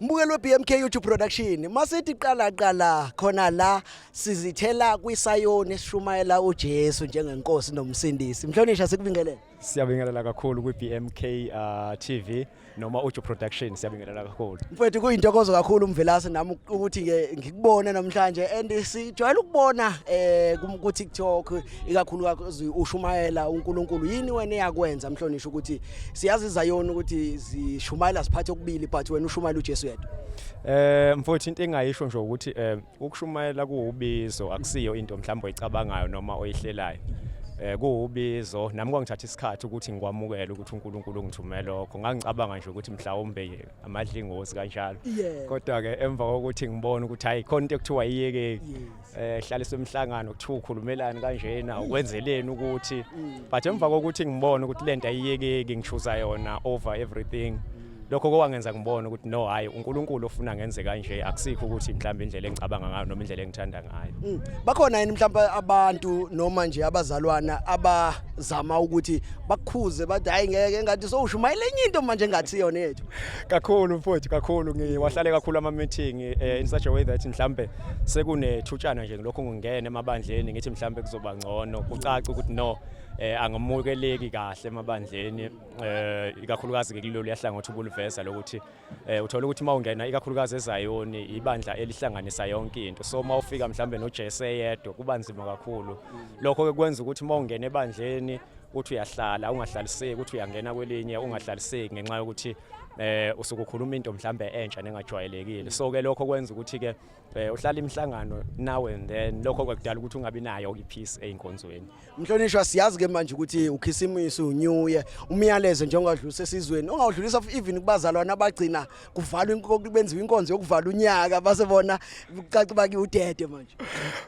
Mbukelo weBMK YouTube Production masithi qala qala khona la sizithela kwisayoni esishumayela uJesu njengenkosi nomsindisi mhlonisha sikubingelele Siyabingelela kakhulu kwiBMK uh, TV noma Uju Production siyabingelela kakhulu Mfethu kuyintokozo kakhulu umvelase nami ukuthi ngikubone namhlanje and sijwayele ukubona eh ku TikTok ikakhulukazi ushumayela uNkulunkulu yini wena eyakwenza mhlonishwa ukuthi siyazi izayoni ukuthi zishumayela siphathe okubili but wena ushumayela uJesu yedwa eh mfowethu into engayisho nje ukuthi eh ukushumayela kuwubizo akusiyo into mhlawumbe oyicabangayo noma oyihlelayo eh kuwubizo nami kwangithatha isikhathi ukuthi ngikwamukele ukuthi uNkulunkulu ungithumele lokho ngangicabanga nje ukuthi mhlawumbe amadlingozi kanjalo kodwa ke emva kokuthi ngibone ukuthi hayi khona into ekuthiwa iyekeki eh hlalisa umhlangano kuthiwa ukhulumelani kanjena ukwenzeleni ukuthi but emva kokuthi ngibone ukuthi lento ayiyekeki ngishuza yona over everything lokho kowangenza ngibone ukuthi no hayi uNkulunkulu ofuna ngenze kanje akusikho ukuthi mhlawumbe indlela engicabanga ngayo noma indlela engithanda ngayo mm. bakhona yini mhlawumbe abantu noma nje abazalwana abazama ukuthi bakukhuze bathi hayi ngeke ngathi sowushumayela enye into manje engathi yona yethu kakhulu mfowethu kakhulu ngiwahlale kakhulu ama meeting eh, in such a way that mhlawumbe sekunethutshana nje lokho ngingena emabandleni ngithi mhlambe kuzoba ngcono kucaca ukuthi no eh angamukeleki kahle emabandleni eh ikakhulukazi ke kulolu yahlangothi ubuliveza lokuthi eh uthola ukuthi mawungena ikakhulukazi ezayoni ibandla elihlanganisa yonke into so mawufika mhlambe noJesu eyedwa kuba nzima kakhulu lokho ke kwenza ukuthi mawungena ebandleni uthi uyahlala ungahlaliseki uthi uyangena kwelinye ungahlaliseki ngenxa yokuthi eh usukukhuluma into mhlambe entsha nengajwayelekile so ke lokho kwenza ukuthi ke eh, uhlala imihlangano now and then lokho kwakudala ukuthi ungabi nayo ipeace einkonzweni mhlonishwa siyazi ke manje ukuthi ukhisimusi unew year umyalezo njengowadlulisa esizweni ongawudlulisa even kubazalwana abagcina kuvalwa inkonzo benziwa inkonzo yokuvala unyaka base bona kucaca baki udede manje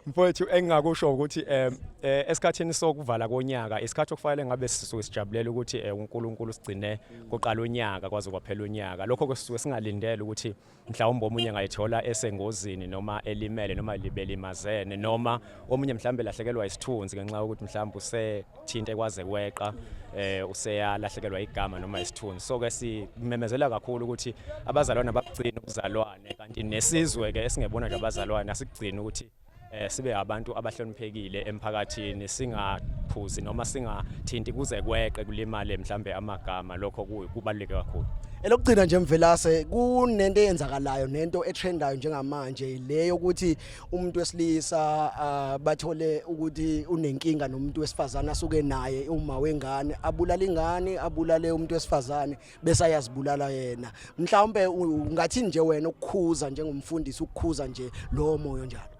mfowethu engingakusho ukuthi eh, eh esikhathini sokuvala konyaka isikhathi okufanele ngabe sisuke sijabulela ukuthi eh, uNkulunkulu sigcine kuqala unyaka kwaze kwaphela unyaka lokho kusuke singalindele ukuthi mhlawumbe omunye ngayithola esengozini noma elimele noma libelimazene noma omunye mhlawumbe lahlekelwa isithunzi ngenxa yokuthi mhlawumbe usethinte kwaze kweqa eh useyalahlekelwa igama noma isithunzi so ke simemezela kakhulu ukuthi abazalwane abagcina ubuzalwane kanti nesizwe ke esingebona nje abazalwane asigcina ukuthi eh sibe abantu abahloniphekile emphakathini singaphuzi noma singathinti kuze kweqe kulimale mhlambe amagama lokho kubaluleke kakhulu elokugcina nje mvelase kunento eyenzakalayo nento etrendayo njengamanje le yokuthi umuntu wesilisa ah, bathole ukuthi unenkinga nomuntu wesifazane asuke naye uma wengane abulala ingane abulale umuntu wesifazane bese ayazibulala yena mhlawumbe ungathi nje wena ukukhuza njengomfundisi ukukhuza nje lowo moyo njalo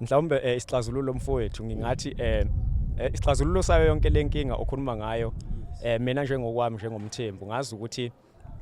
mhlawumbe eh, isixazululo mfowethu ngingathi eh, eh isixazululo sayo yonke lenkinga okhuluma ngayo eh mina njengokwami njengomthembu ngazi ukuthi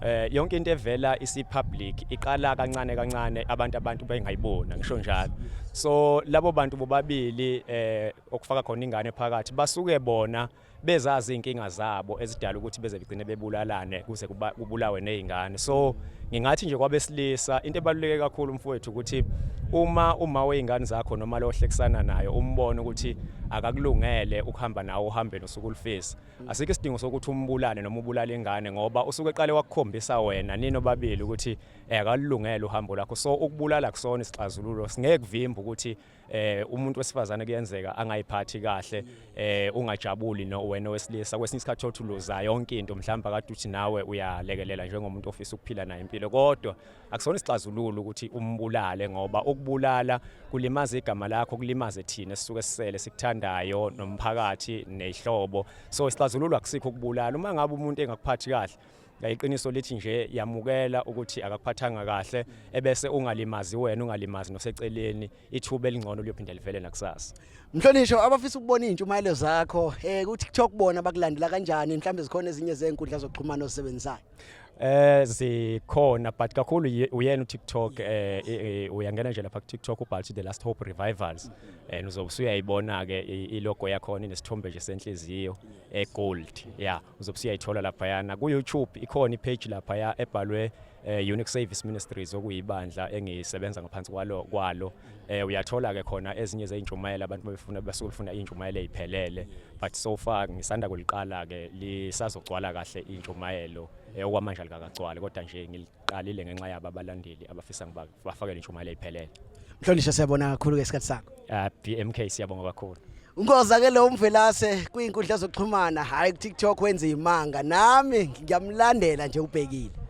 eh yonke into evela isipublic iqala kancane kancane abantu abantu bengayibona ngisho njalo so labo bantu bobabili eh okufaka khona ingane phakathi basuke bona bezazi inkinga zabo ezidala ukuthi beze begcine bebulalane kuze kubulawe nezingane so ngingathi nje kwabesilisa into ebaluleke kakhulu mfowethu ukuthi uma uma weingane zakho noma lohlekisana nayo umbone ukuthi akakulungele ukuhamba nawo uhambeni usuku ulifisa asikho isidingo sokuthi umbulale noma ubulale ingane ngoba usuke eqale wakukhombisa wena nino babili ukuthi eh, akalungele uhambo lakho so ukubulala kusona isixazululo singeke kuvimba ukuthi eh umuntu wesifazane kuyenzeka angayiphathi kahle eh ungajabuli no wena wesilisa kwesinye isikhathi othi uluza yonke into mhlawumbe akade uthi nawe uyalekelela njengomuntu ofisa ukuphila naye impilo kodwa akusona isixazululo ukuthi umbulale ngoba ukubulala kulimaza igama lakho kulimaze thina sisuke sisele sikuthandayo nomphakathi nezihlobo so isixazululo akusikho ukubulala uma ngabe umuntu engakuphathi kahle Iqiniso lithi nje yamukela ukuthi akakuphathanga kahle ebese ungalimazi wena ungalimazi noseceleni ithuba elingcono liyophinde livele nakusasa. Mhlonishwa abafisa ukubona izintshumayelo zakho eh ku TikTok bona bakulandela kanjani mhlawumbe zikhona ezinye zezinkundla zokuxhumana osebenzayo. Eh zikhona but kakhulu uyena uTikTok eh, eh, eh uyangena nje lapha kuTikTok ubhalthi the last hope revivals and eh, uzobe usuyayibona ke ilogo yakho inesithombe nje senhliziyo egold yeah uzobe siyayithola laphayana ku-youtube ikhona ipage laphaya ebhalwe eh, unique service ministries okuyibandla engisebenza ngaphansi kwalo kwalo eh, uyathola ke khona ezinye zeyintshumayelo abantu befuna basuke befuna intshumayelo eyiphelele but so far ngisanda kuliqala ke lisazogcwala kahle intshumayelo eh, okwamanje likakagcwali kodwa nje Qalile ngenxa yaba balandeli abafisa ngiba bafakele intshumayelo iphelele. Mhlonishwa siyabona kakhulu ke isikhathi sakho. Ah BMK siyabonga kakhulu. Ngoza ke lo mvelase kwinkundla zokuxhumana hayi ku TikTok wenza imanga nami ngiyamlandela nje ubhekile.